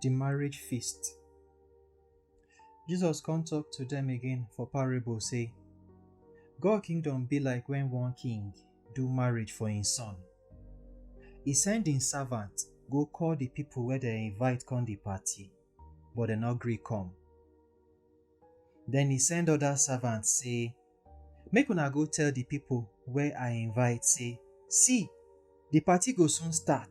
di marriage feast. Jesus come talk to dem again for parable say, God kingdom be like when one king do marriage for im son. E send im servant go call di pipo wey dem invite come di party, but dem no gree come. Den e send oda servants say, Make una go tell di pipo wey I invite say, See! Di party go soon start.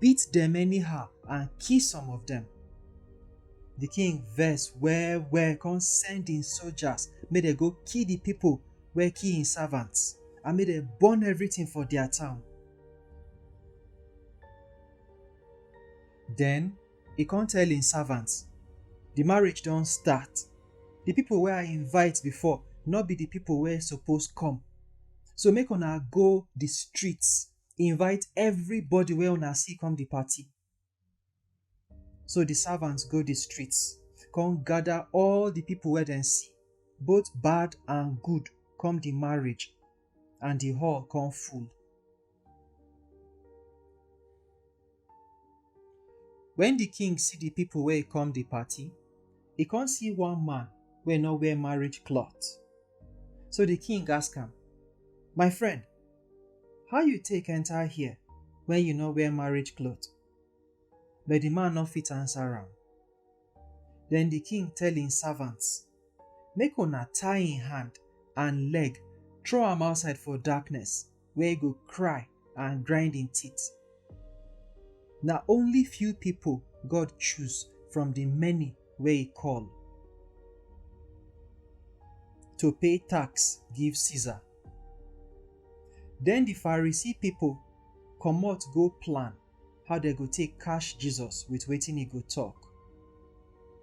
beat dem anyhow, and kill some of dem. Di king vex well-well kon send im sojas make dem go kill di pipo wey kill im savants and make dem burn evritin for dia town. Den, e kon tell im savants, Di marriage don start. Di pipo wey I invite before nor bi di pipo wey suppose kom. So make una go di streets invite everybody wey una see come the party. So the servants go the streets, come gather all the people wey dem see, both bad and good, come the marriage, and the hall come full. Wen di king see di pipo wey come di party, e kon see one man wey nor wear marriage clot. So di king ask am, My friend, how you take enter here wen you nor wear marriage clot? But di man nor fit answer am. Den di king tell im servants. Make una tie im hand and leg, throw am outside for darkness, where e go cry and grind im teeth. Na only few pipo God choose from di many wey e call, to pay tax give Caesar. Den di Pharisee pipo comot go plan. how dem go take catch Jesus with wetin he go talk.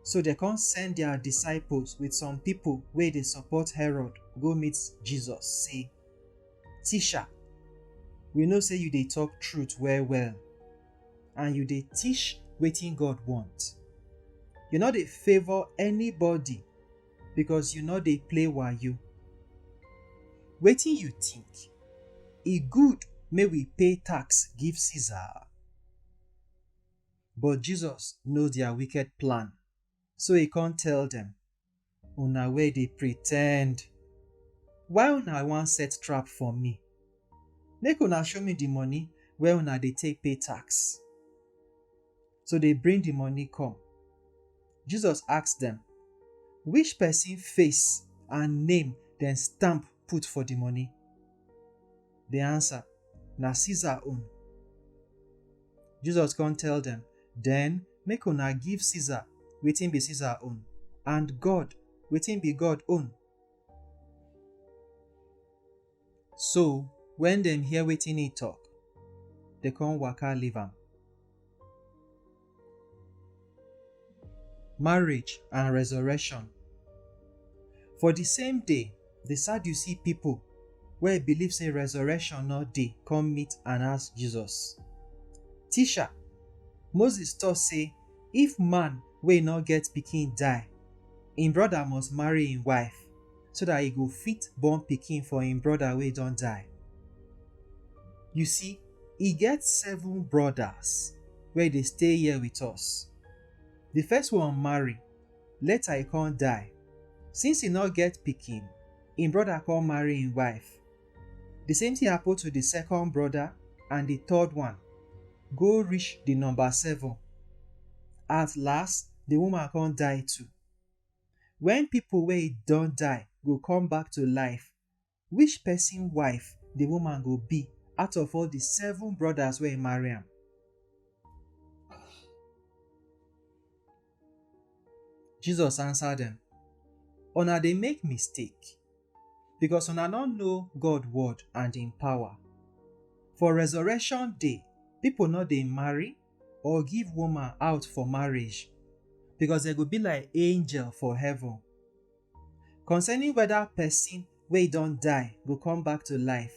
So dem come send their disciples with some people wey dey support Herod go meet Jesus say, Teacher, we know say you dey talk truth well well and you dey teach wetin God want. You no dey favour anybody because you no dey play wayo. Wetin you think? E good make we pay tax give Caesar? But Jesus know their wicked plan, so he come tell them, Una wey dey pretend, why una wan set trap for me? Make una show me the money wey una dey take pay tax. to dey bring the money come. Jesus ask dem, Which person face and name dem stamp put for the money? They answer, Na Caesar own. Jesus come tell dem, Then make una give Caesar wetin be Caesar own, and God wetin be God own. So, wen dem hear wetin e tok, dem come waka leave am. Marriage and resurrection. For di same day, di Sadducee pipo wey believe sey resurrection no dey come meet and ask Jesus, Teacher, Moses tok sey if man wey no get pikin die, im brother must marry im wife. so dat e go fit born pikin for im broda wey don die. You see, e get seven brodas wey dey stay here wit us. Di first one marry, later e con die. Since e nor get pikin, im broda con marry im wife. Di same tin happen to di second broda and di third one, go reach di number seven. At last, di woman con die too. Wen pipo wey don die go come back to life, which pesin wife di woman go be out of all di seven brodas wey marry am? Jesus ansa dem, Una dey make mistake, becos una nor know God word and im power. For resurrection day, pipo nor dey marry or give woman out for marriage, because dem go be like angel for heaven. Concerning whether person wey don die go come back to life,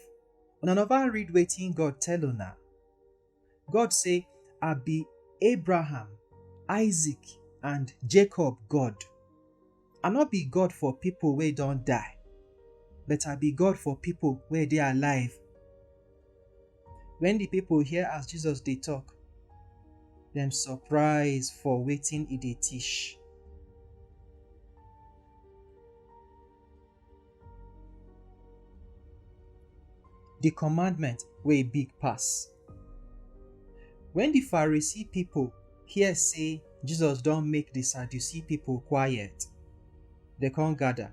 una never read wetin God tell una. God say, I be Abraham, Isaac, and Jacob God. I no be God for people wey don die, but I be God for people wey dey alive. When the people hear as Jesus dey talk, dem surprise for wetin e dey teach. The commandment wey big pass. When the Pharisee people hear say Jesus don make the Sadducee people quiet, they come gather.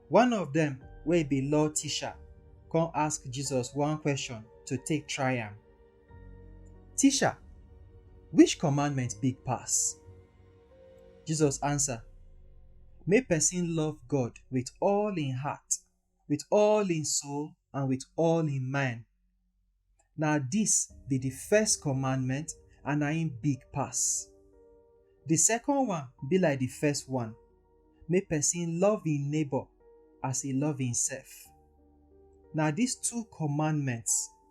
One of them wey be law teacher come ask Jesus one question to take try am. Teacher, which commandment big pass? Jesus answer, Make person love God with all in heart, with all in soul, and with all in mind. Na this be the first commandment and na im big pass. The second one be like the first one, make person love im neighbor as e love himself. Na these two commandments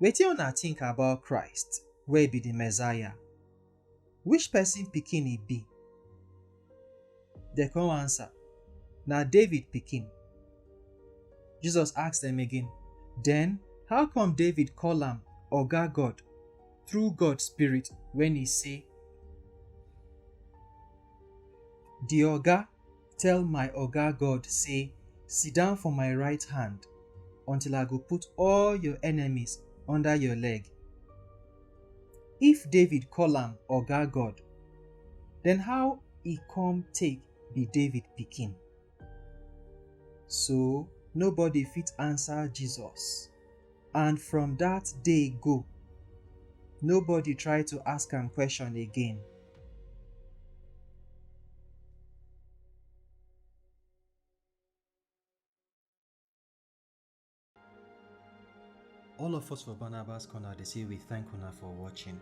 Wetin una think about Christ wey be the Messiah? Which person pikin e be? Dem come answer, Na David pikin. Jesus ask dem again, Then how come David call am Oga God through God spirit when e say, The Oga Tell my Oga God say, Sit down for my right hand until I go put all your enemies under your leg. If David call am Oga God, then how e come take be David pikin? So nobody fit answer Jesus. And from that day go, nobody try to ask am question again. All of us for Barnabas Corner, they say we thank una for watching.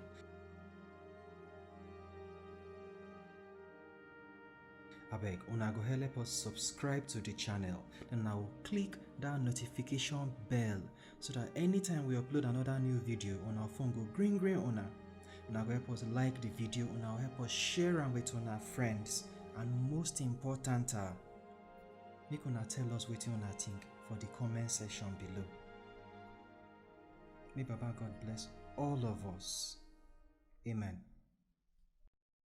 abeg una go help us subscribe to the channel then now click that notification bell so that anytime we upload another new video on our phone go green green una una go help us like the video una help us share am with una friends and most important ah, make una tell us wetin una think for the comment section below may baba god bless all of us amen